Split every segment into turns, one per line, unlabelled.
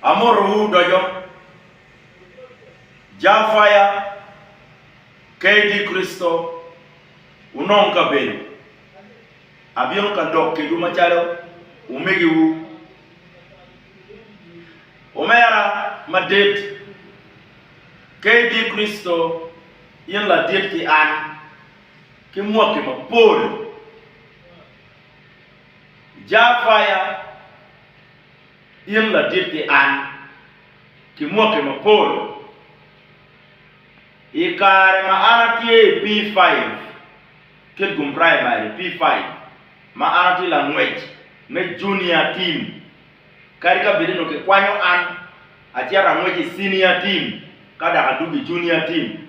Amotowu doco. Jar faya, KD Kricito, wunong kabedo. Abino ka dok kedwu macalo omegiwu. Omera madit, KD Kricito, in ladit ki an, ki mwaki mapol. Jafaya, in ladit ki an, ki mwaki mapol. I kare ma an atye i P5, Kitgum Primary, P5, ma an atye langwec me Junior Team, kadi ka bed ni onongo kikwanyo an acito angwec i Senior Team ka dok adwogo i Junior Team,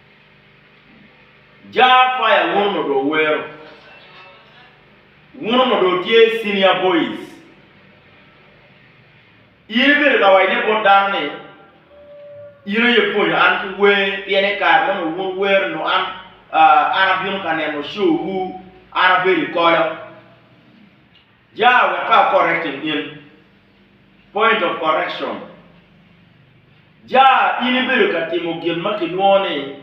Jar fire wuno modo owero. Wuno modo otye senior boys. In ibedo ka waco ne bot dano ni in aye ipwonyo an ki wer pien ni kare mono wun wero nongo an an abino ka neno show wu an abedo i kolo. Ja wek ka correcting in. Point of correction, Ja in ibedo ka timo gin ma kilwongo ni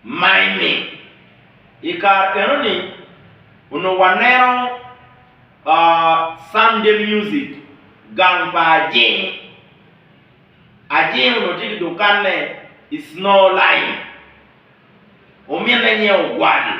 miming. I kare enoni onongo waneno Sunday music, gang pa Ajing. Ajing onongo tye ki dukanne i Snow Line. Ominne nyinge Ogwal.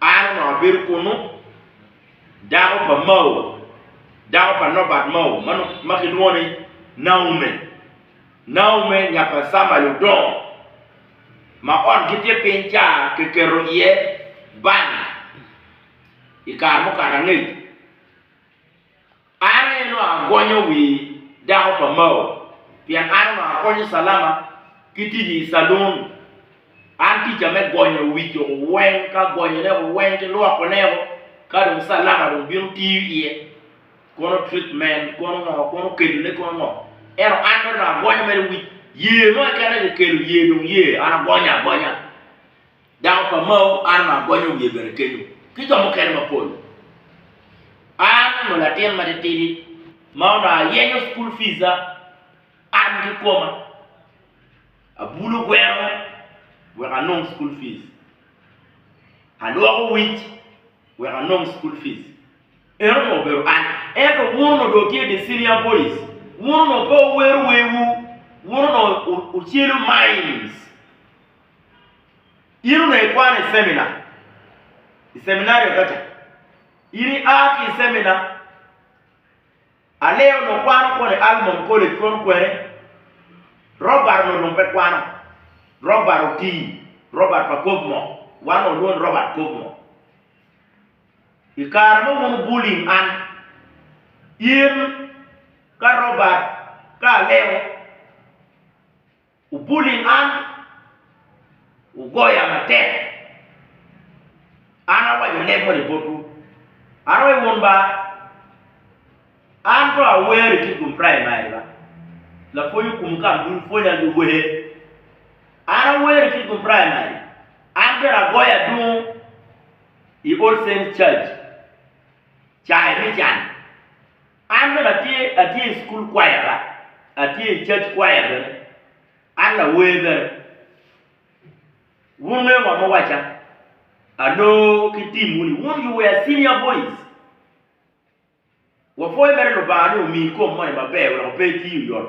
An onongo abedo kunnu, dako pa Mao, dako pa Norbert Mao ma kilwongo ni Naume. Naume nya pa Samuel Odong ma otgi tye piny ca kiketo iye bank i kare mukato angec. An aye dong agonyo wi dako pa Mao, pien an onongo akonyo Salama ki tic i calun. An tica me gonyo wi jo weng, ka gonyone o weng ki lwokone o, ka dong Salama dong bino tiyo iye, kono treatment, kono ngo, kono kedone, kono ngo. Ento an mere dong agonyo mere wi ye mo keken aye kikelo, ye dong ye, an agonyo agonya. Dako pa Mao Arma agonyo wiye bene kenyo ki jo mukene mapol. An onongo latin matitidi ma onongo ayenyo cukul fica an ki koma. Abulo gweno wek anong cukul fic, alwoko wic wek anong cukul fic. En onongo obedo an. Ento wun onongo dong wutye dye senior boys, wun onongo pe wuwero werwu, wun onongo wucelo mines. In onongo ikwano i cemina, i ceminari Agaca. In ia ki i cemina, Alea onongo kwano kono i Almond College kono kwene, Robert onongo dong pe kwano. Robert otii, Robert pa Covemore, wan onongo walwongo ni Robert Covemore. I kare ma wun wubulling an, in ka Robert ka Aleo, Wubuli man, wugoya matek. An awaco leb moni botwu, an aye wun ba, an to awer i kit Gumprey ma aye ba, lapwony okumu ka amdul pwonya gi wer. An awer i kit Gumprey ma aye, an bene agoyo adungu i All Saints Church cayi me can. An bene atye atye i cukul kwaya la atye i cac kwaya bene an lawer bene wun wungeyo ngo ma awaca aloo ki tim wuni wun you were senior boys wapwoyo mere lubanga ni omi kom moni maber weko pe iti oyot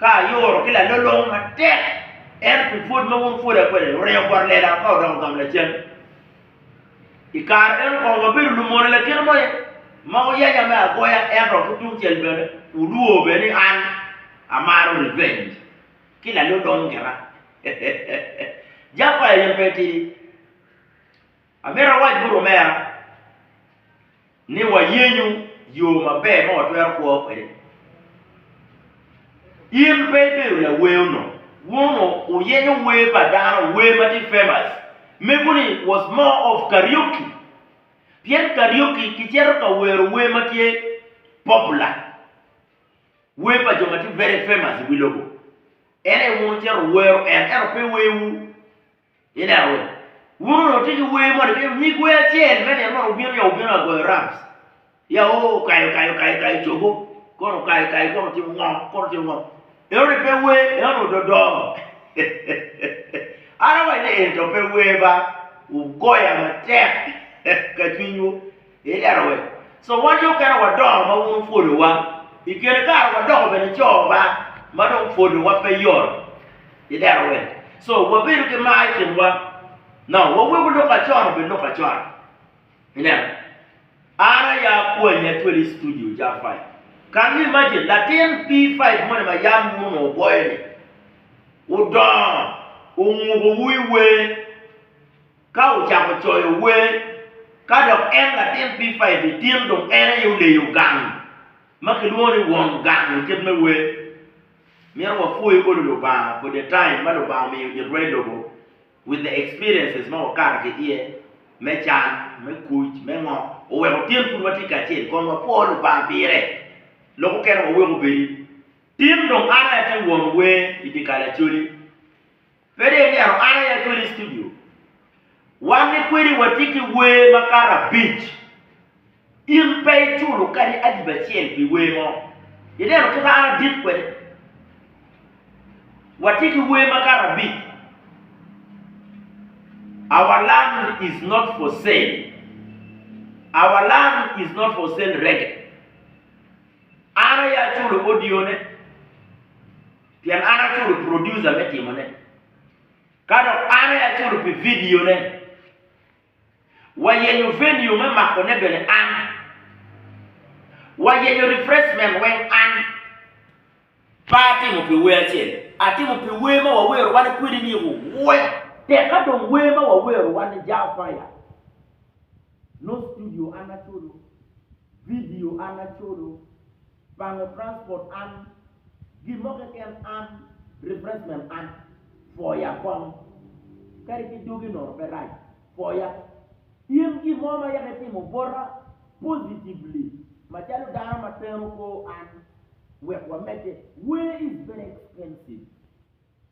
Ka ayoro ki lalolong matek, ento pi pwod ma wun wupwoda kwede, wureyo bot lela ka wudoko gam lacen. I kare meno kong wabedo lumone lakite mo aye, ma wuyanya me agoya, ento ki tungcel bene wulwor bene ni an amaro revenge ki lalolong gira. Jaffa aye pe etidi. Amito awac bot omera ni wayenyo yo maber ma watwero kwo kwede. In pe ibedo lawer onongo, wun onongo wuyenyo wer pa dano, wer ma tye famous. Mego ni was more of karaoke pien karaoke kicito ka wero wer ma tye popular, wer pa jo ma tye very famous i wi lobo en aye wun wucito wuwero en ento pe werwu. Ineno wee? Wun onongo wutye ki wer moni kadi nyig wer acel me nino moni wubino ya wubino ya goyo rams ya o okayo okayo okayo okayo cogo kono okayo okayo kono otimo ngo kono otimo ngo enoni pe wer enoni ododo an awaco ni eni to pe wer ba wugoya matek ka cwinywu. I lero wek so wan yo kene wadongo ma wun wupwodowa, i kine kare wadoko bene co ba ma dong pwodowa pe yot. I lero wek so wabedo ki mar i kinwa, no wawego lok acon obed lok acon. Ineno, an aya kwanyi acwel i studio ja five. Can you imagine latin P five moni ma yam wun onongo wugoyo ni, wudongo, ongubowu i wer, Ka ocako coyo wer, ka dok en latin pipa i dye tin dong en aye oleyo gang ma kilwongo ni won gang i kit me wer. Myero wapwoy olo Lubanga for the time ma Lubanga omiyo it rweny lobo with the experiences ma wakato ki iye me can, me kuc, me ngo, oweko tin pud watye kacel kun wapwo Lubanga pire. Lok okene wawek obedi, tin dong an aye atye won wer i dye kal acoli. Pede ilyero an aya kwedi i studio. Wan ni kwedi watye ki wer makato abic. In pe iculo kadi adiba acel pi wer mo. Ineno kika an adit kwede? Watye ki wer makato abic. Our land is not for sale. Our land is not for sale reggae. An aya aculo audio ne. Pien an aculo producer me timone, ka dok an aye aculo pi vidione. Wayenyo venue me makone bene an. Wayenyo refreshment weng an. Pe atimo pi wer acel, atimo pi wer ma wawero wan kwede ni Ruwe. Tek ka dong wer ma wawero wan ni Jah Fire. Nongo studio an aculo, vidio an aculo. Pango transport an, gin mo keken an, refreshment an, pwoya kong. Kadi ki dogi nono pe rac, pwoya. In gin mo ma yaka itimo bota positively macalo dano ma teno kor an wek wamedde, where is very expensive.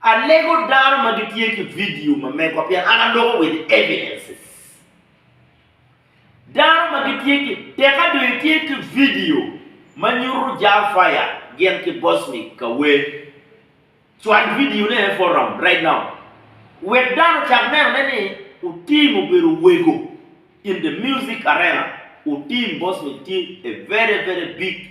Alego dano ma gitye ki vidio ma megwa pien an aloko with evidences. Dano ma gitye ki, teka dong itye ki vidio ma nyuto Jah Fire gin ki Bosnic ka wer, cwal vidione e forum right now. Wek dano ocak nenone ni Otim obedo owego in the music arena. Otim Bosnic tye a very very big.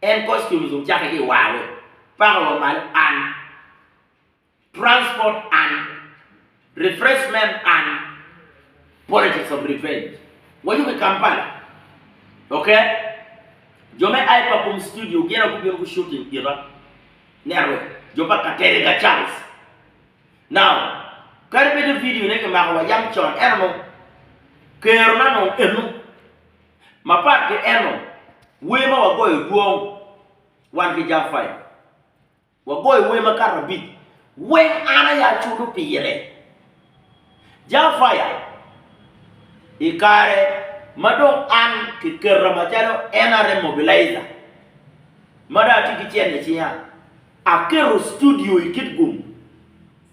En kor schoolism cake ki war wek pako wa malo and transport and refreshment and politics of revenge. Wayubo i Kampala ok jo me Aipa Boom Studio gin aye gubino gu shooting kita network jo pa Katerega Charles now kadi bed ni video ne kimako wa yam con ento nongo kero na nongo eno. Mapat ki eno, wer ma wagoyo dwong wan ki Jafai. Wagoyo wer makato abic wek an aye aculo pire. Jafai, I kare ma dong an kiketa macalo NRM Mobilizer ma dong atye ki cente i cinga, aketo studio i Kitgum.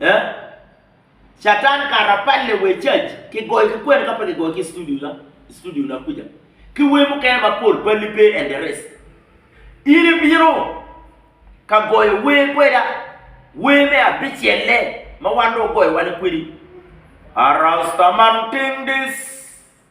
Eh? Catan kara apalle wa i cac, kigoyo ki kwene ka pe kigoyo ki i studio na, i studio na kuca. Ki wer mukene mapol balli pe and the rest. In ibino ka goyo wer kweda, wer me abicelle ma wan dong ogoyo wane kwedi, Arastaman Tingdis.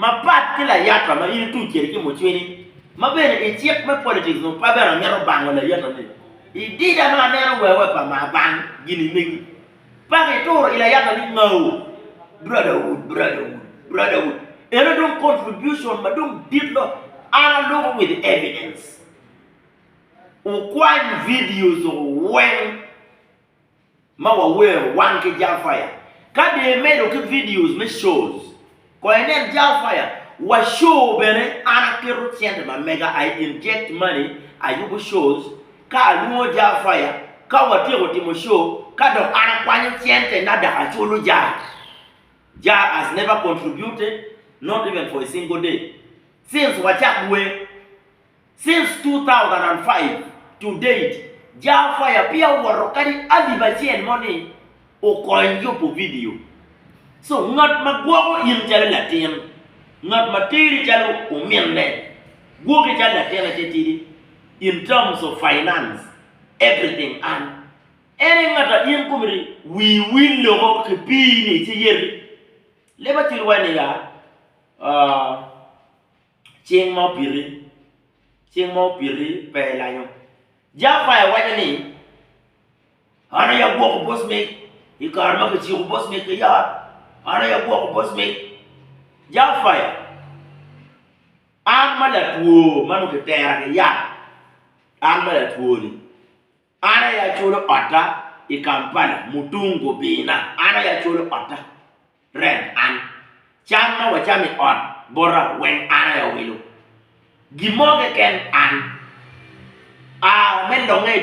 Mapat ki layata ma in ituc kwede ki mucwiny, ma bene i cik me politics nongo pe bene amito bango layata-ni. I dida ma aneno wewe pa ma bang gini megi, paka ituro i layata ni ngau. Brotherhood, brotherhood, brotherhood. Eno dong contribution ma dong dit lo. An aluko with evidence. Wukwany videos weng. ma wawero wan ki Jal Fire. Ka dong imedo ki videos me shows, kong inen Jal Fire. Wa show bene an aketo cente ma mega, I inject money, ayubo shows ka alwongo Jal Fire, ka watyeko timo show ka dok an akwanyo cente na dok aculo Jal. Jal has never contributed, not even for a single day, since wacak wer. Since two thousand and five to date, Jar Fire peya owoto kadi alip acel mo ni okony yubo vidio. So ngat ma gwoko in calo latin, ngat ma teri calo ominne, gwoki calo latine te tidi in terms of finance, everything an. En aye ngat a in komiti wii wil loko ki pii ni ici yeti. Leba cwit wai niga, aah. Cing ma opiti, Cing ma opiti pe elanyo. Jafaya waco ni, An aye agwoko boc mig i kare ma kiciko boc mig ki yat, an aye agwoko boc mig. Jafaya, an ma latwo ma onongo kitera ki yat, an ma latwo-ni. An aye acwolo otta i Kampala mutung gubina. An aye acwolo otta, rent an. Cam ma wacamo i ot bota weng an aye awilo. Gin mo keken an. A me longe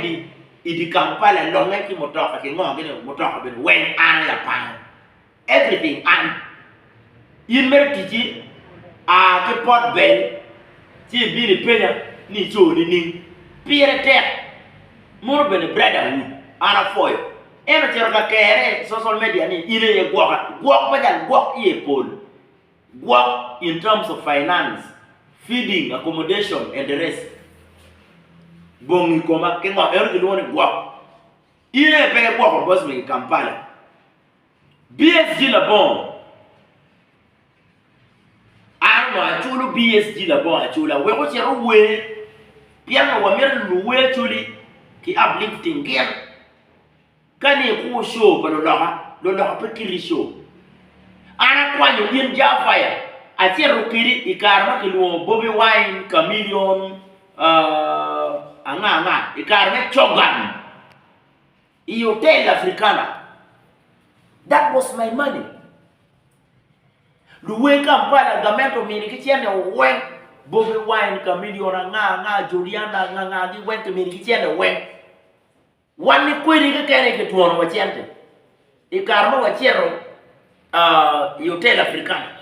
i dye Kampala, longe ki mutoka, kingo gini mutoka bene weng an aye apango. Everything an. In mere ticci a ki Port Bell ci ibino ipenya ni ico nining? Pire tek. Mono bene Brotherhood an apwoyo. En ocito ka kerre i social media ni in aye gwoka. Gwok pa jal gwok iye pol. Gwok in terms of finance, feeding, accommodation and the rest. Bongi koma ki ngo? Eno kilwongo ni gwok. In aye pe igwoko boss me ki Kampala. BSG Labongo An onongo aculo BSG Labongo acula wek ocit ower pien onongo wamito lulu wer acoli ki uplifting gin ka ni ikwo show pa luloka, luloka pe kiti show. An akwanyo in Jah Fire acito kedi i kare ma kilwongo Bobi Wine, Chameleon, aa, anga anga i kare me Cogan. I Hotel Africana, That was my money. Luwe Kampala, gamente omini ki cene weng, Bobi Wine, Chameleone, anga anga, Juliana, anga anga gi weng kimini ki cene weng. Wan ni kwedi kekeni kitwono wa cente i kare ma wacito i Hotel Africana.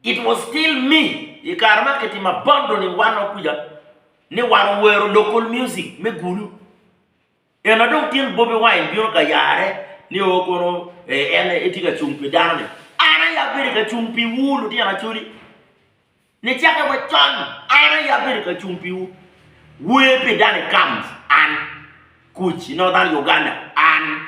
It was still me i kare ma kitimo abandoning wanwa kuca ni wan owero local music me Gulu. Ena dong tin Bobi Wine bino ka yare ni o kono en etye ka cung pi dano ni. An aye abedo ka cung piwu lutino Acholi. Nicakke wa con an aye abedo ka cung piwu. Wer pi Danny Kamz an, Kuc i Northern Uganda an.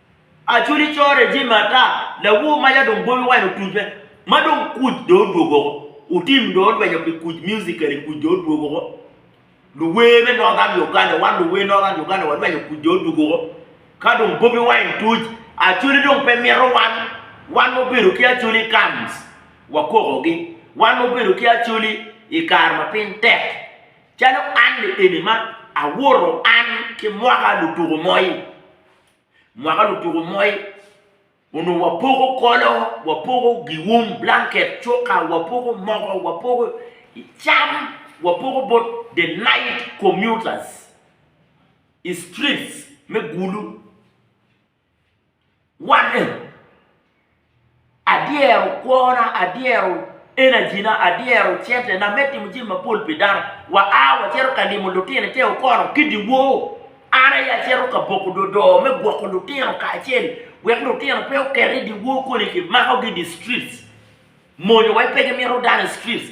Acholi corre jami ata, lawor maya dong boyo wene otucce ma dong kuc dong odwogo woko, otim dong odwenyo pi kuc musically kuc dong odwogo woko, luwer me Northern Uganda wan luwer Northern Uganda wadwenyo kuc dong odwogo woko ka dong Bobi Wine tuc Acholi dong pe mito wan, wan ma obedo ki Acholi i camps wakokogi, wan ma obedo ki Acholi i kare ma piny tek calo an-ni eni ma awoto an ki mwaka lutuku moi. mwaka lutuku moi onongo wapoko kolo, wapoko gium, blanket, cuka, wapoko mogo, wapoko cam, wapoko bot the night commuters i streets me Gulu. Wan Adyero kwona, adyero enajina, adyero centena me timo jami mapol pi dano. Waa wacito ka limo lutino i te okono ki dyewor. An aye acito ka boko dodoo me gwoko lutino kacel wek lutino pe oket i dyewor koni kimakogi i dye streets. Mony wa pe gimito dano i streets.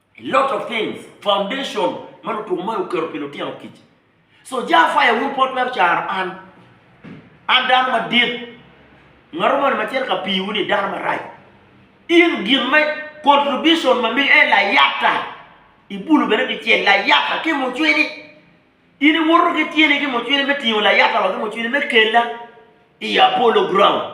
Lot of things, foundation ma lutuko mayo oketo pi lutino kic. So ja fire wun pot twero caro an. An dano madit. Ngato moni ma cito ka piwu ni dano marac. In gin me contribution ma miyo en layata. Ibulu bene kicel layata ki mucwini. In iwoto ki tyeni ki mucwini me tingo layata wa ki mucwini me kela i Apollo ground.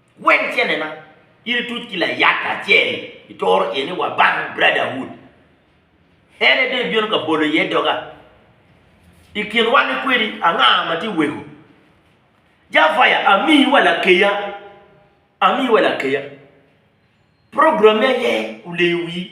Gweng cennena in ituc ki layat acel itoro iye ni wa bang Brotherhood. En ede ibino ka bolo iye doga. I kin wan ni kwedi anga ma tye weko? Jafaya amiyi wa lakeya, amiyi wa lakeya. Program me aye oleyo wii.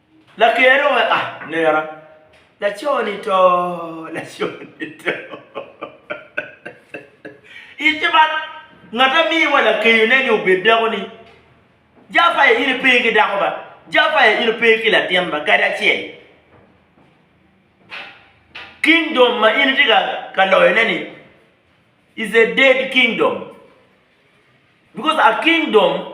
Laker oweka nera. Laco ni to, laco ni to. Ite man, ngat amiwa lakeyo ne ni obed dako ni, Jafaya in ipe ki dako ba, Jafaya in ipe ki latin ba kadi acel. Kingdom ma in itye ka loyo ne ni is a dead kingdom because a kingdom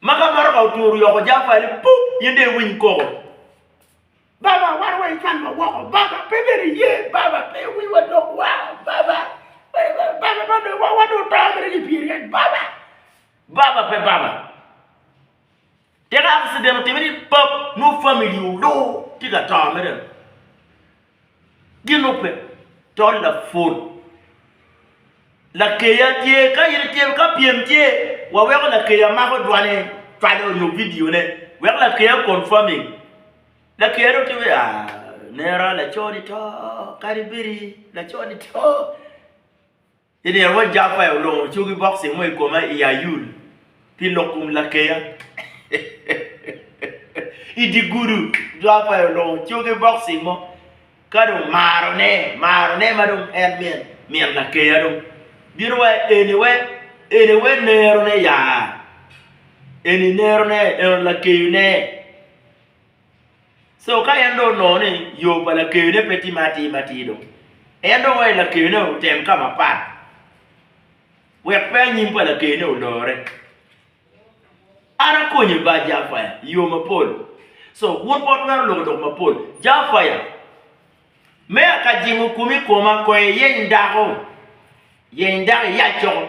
Ma ka motoka oturu oyoko jang pa ni pup in dong iwiny koko. Baba wan wa ican wa woko baba pe bene iye baba pe wi wa dok wa baba baba ma dong wa wa dong to mere ki pyeri en baba baba pe baba tika accident otimini pap nwo family odur tika to mere Gilube to laput. Lakeya tye ka in itye ka pyem tye wa weko lakeya mako dwane cwalo nyo video ne weko lakeya confirming lakeya dong tye weko aah nera laco ni to kadi bedi laco ni to. Ilia wod Jafaya olongo cogi bokci mo i koma i Ayul pi lok kom lakeya. I dye gudu, Jafaya olongo cogi bokci mo ka dong marone, marone ma dong en min, min lakeya dong bino wa eni we, eni we nerone ya, eni nerone, eni lakeyone. So ka en dong onongo ni yo pa lakeyone pe timme atir matir dong, en dong waci lakeyone otem ka mapat wek pe anyim pa lakeyone olore. An akonye ba Jafaya i yo mapol. So wun pe wutwero loko dok mapol. Jafaya, me aka jingo komi i koma, konya iyeny dako, yeny dako iyac coko.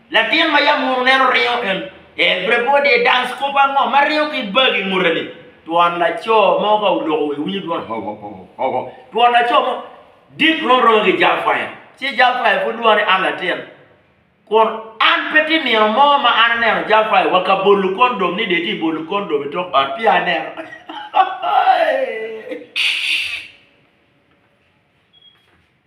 Latin ma yam munu nen oringo en ee Brebode ee dance kop ango ma ringo ki bag i ngute ni? Twon laco mo ka oloko wa iwinyo dwon hoho hoho hoho twon laco mo dit rom roma ki jal kwaya ci jal kwaya pud lwongo ni an latin kun an pe ti nino mo ma an aneno jal kwaya wa ka bolu kondom ni de ti bolu kondom itok ot pia aneno hahahaha.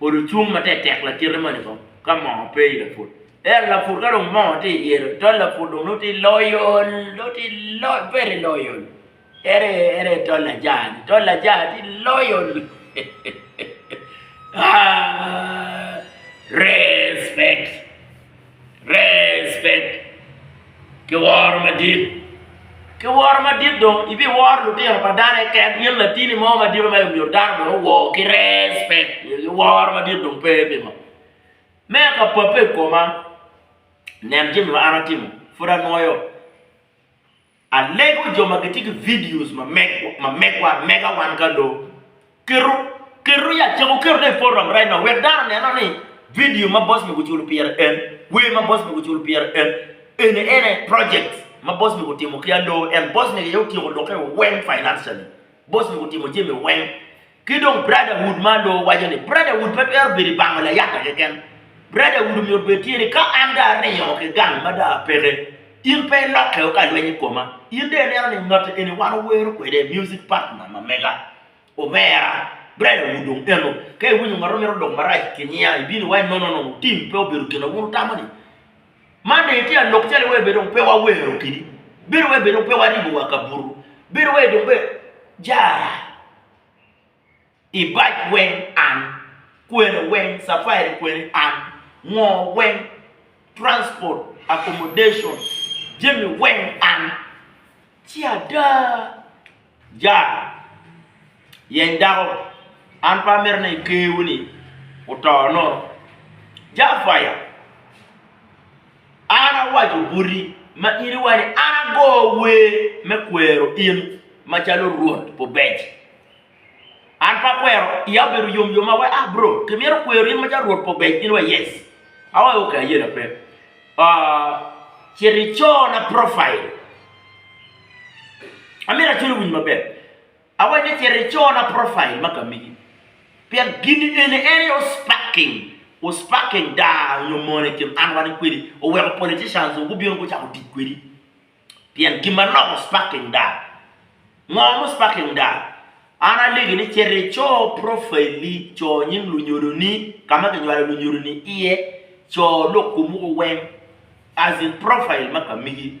Odo cung matetek lakite moni kong ka moo pe i laput. Ento laput ka dong moo tye i yelo tol laput dong nongo tye loyol nongo tye loyol very loyol ere ere tol ajaa ni tol ajaa tye loyol aa respect. Respect ki woro madit. Ki woro madit dong ibiworo lutino pa dano keken in latini mo madito ma omyero dano bene owor ki respect nyo ki woro madit dong pe pingo. Me ka pape i koma nen jami ma an atimo pud anwoyo Alego jo ma gitye ki videos ma megwa amega wan ka loo. Keto, keto ya cako keto ne i forum right now wek dano oneno ni video ma boss me guculo pire en, wer ma boss me guculo pire en, ene ene projects ma boss me gutimo ki aloo en boss me aye otyeko lokke weng financially, boss me gutimo jami weng. Ki dong Brotherhood ma alor waco ni, Brotherhood pe twero bedo i bango layata keken. Brotherhood omyero obed tye ni ka an dong aringo ki gang ma dong apeke, in pe ilokke o ka lweny i koma. In dong ineno ni ngati eni wan owero kwede, music partner ma mega, omera. Brotherhood dong eno. Ka iwinyo ngat mo mito lok marac ki nyiya, ibino iwaci, No, no, no, no, team pe obedo gin ma wun wutamo ni. Man dong itye ka lok calo iwee bene dong pe wawero keni, bedo wai bene dong pe waribo wa kabuto, bedo wai dong bene jara ibac weng an, kwene weng capairi kwene an, ngo weng transport, accommodation jami weng an ci ada. Jar, yeny dako, an pe amito ni kewu-ni oto nono. Jafaya, an awaco boti ma in iwaco ni an ago wer me kwero in macalo Rwot Pubec. An pe akwero, iya obedo yom yom ma awaco, ah bro, kimito kwero in macalo Rwot Pubec? In iwaco yes. Awaco ok, ayena pe. Cit icorna propail. Amito acwalo winyi maber. Awaco ni cito icona profile ma kamigi pien gini eni en aye osparking osparking daa nyo mono i kin an wani kwedi oweko politicians dong gubino gucako tic kwedi pien gin manok osparking daa. Ngo ma osparking daa? An alegi ni cito ico profaili co nying lunyodoni ka ma kinywalo lunyodoni iye, co lok kwomu weng as in profile ma kamigi.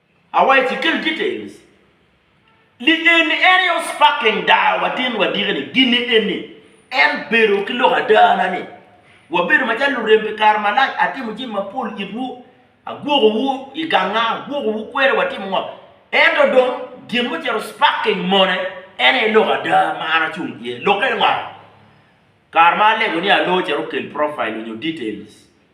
Away ci kel details ni eni en aye osparking daa wa tin wa diki ni gini eni en bedo ki lok ada na ni wa bedo ma calo lurem pi kare malac atimo jami ma pol it wu agwoko wu i ganga agwoko wu kwene wa timo ngo ento dong gin ma ocito sparking mone en aye lok ada ma an acung iye lok eni ngo kare ma alego ni alo cito kel profile onyo details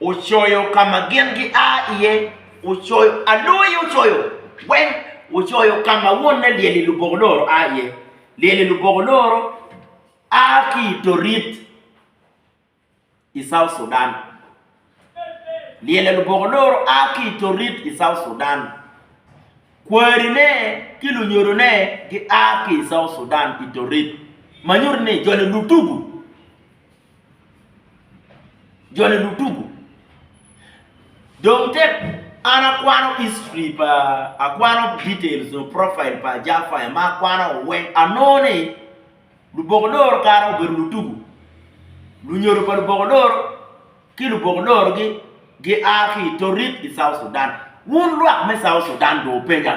ocoyo ka ma gin gia iye, ocoyo aloi ocoyo weng, ocoyo ka ma wonne lyel-li luboko loro a iye, lyel-li luboko loro a ki i Torit i South Sudan, lyel-li luboko loro a ki i Torit i South Sudan, kwarine ki lunyodone gia ki i South Sudan i Torit ma nyuto ni joni lutugu. Jone lutuku. Dong tek an akwano history pa, akwano details or profile pa Ajaa Fire ma akwano weng anongo ni luboko loro kare obedo lutuku. Lunyodo pa luboko loro ki luboko loro gi gi a ki i Torit i South Sudan. Wun lwak me South Sudan dong wupenya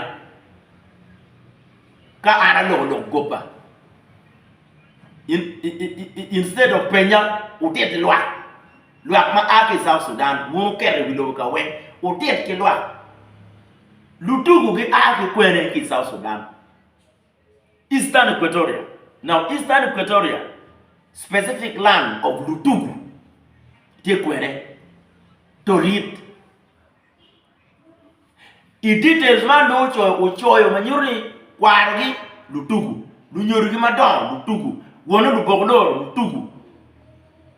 ka an aloko lok gobba. Instead of penya utit ki lwak, lwak ma a ki South Sudan wun uketo i wi lobo ka weng utit ki lwak. Lutuku gi a ki kwene ki South Sudan, Eastern Equatoria. Now Eastern Equatoria specific land of Lutuku tye kwene, Torit. I details man dong ocoyo ocoyo ma nyuto ni kwarogi lutuku, lunyodogi madongo lutuku, wonne lubok loro lutuku.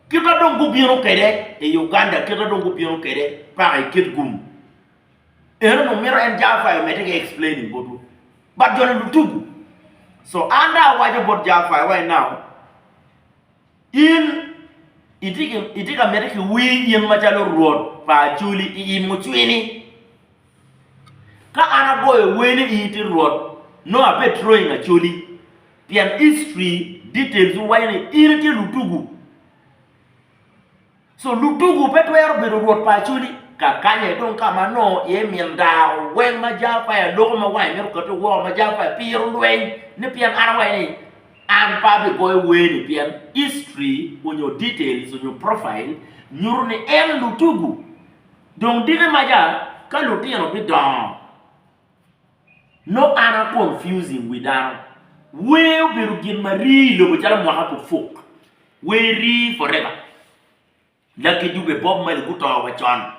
Kit ma dong gubino kwede i Uganda kit ma dong gubino kwede paka i kit gum eno dong mito en Jafai omedde ki explaining botwu but joni lutuku so an dong awaco bot Jafai right now. In itye ka miti ki wir in macalo Rwot pa Acoli i i mucwini? Ka an agoyo wer ni in itye Rwot, nongo abetroing Acoli, pien history details waco ni in itye lutugu. Co lutugu pe twero bedo rwot pa acoli kakanye dong ka ma nongo iye min daa oweng ma jao pa i aloko ma wange mito kate woko ma jao pa piro lweny ni pien an awaco ni an pe abigoyo wer ni pien history onyo details onyo profile nyuto ni en lutugu dong diki maca ka lutino bidongo. No an a confusing wi dano. Wer obedo gin ma rii i lobo calo mwaka pud puk. Wer rii forever. Lucky Dube, Bob Marley guto wa con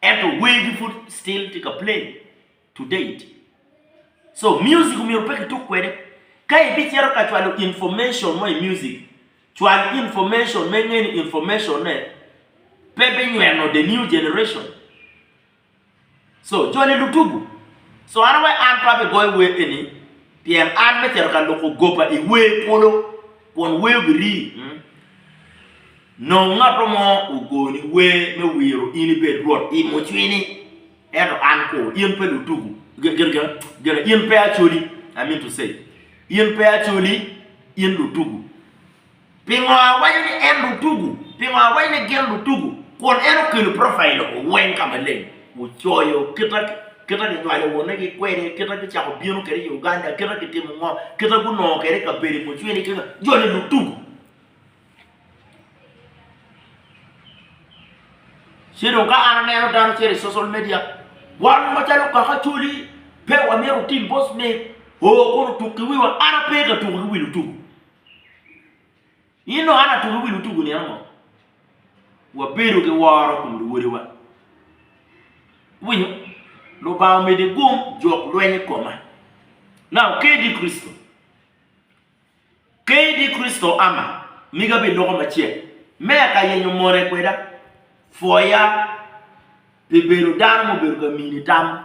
ento wer gi pud still tye ka play to date. So music omyero pe kituk kwede. Ka ibicito ka cwalo information mo i music, cwal information ma inge ni information-ne pe binyweno the new generation. Co, Cone lutugu, cwano wek an pe abigoyo wer eni, pien an me cito ka loko goba i wer polo, kun wer obiri. Nongo ngatto mo ogoni wer me wiro in ibed rwot i mucwini, ento an ko, in pe lutugu, gin, in pe acoli, I mean to say, in pe acoli, in lutugu. Pingo awaco ni en lutugu? Pingo awaco ni gin lutugu? Kun en okelo profail lobo weng ka maleng, ocoyo kita ginywalo wonegi kwede, kita gucako bino kwede i Uganda, kita gitimo ngo, kita gunongo kwede kabedo i mucwini ki nga. Joni lutugu. Ci dong ka an aneno dano cito i social media, wan macalo kaka Acholi pe wamito oting boss ni oo kun otuk ki wiwa, an ape ka tuko ki wi lutugu. In dong an atugo wi lutugo ni ango? Wabedo ki woro kom luwodewa. Iwinyo? Lubanga omede gum jok lweny i koma. Now, kadi Kricito, kadi Kricito ama, miga bed loko macek, me aka yenyo mone kweda, pwoya pi bedo dano ma obedo ka mini tam.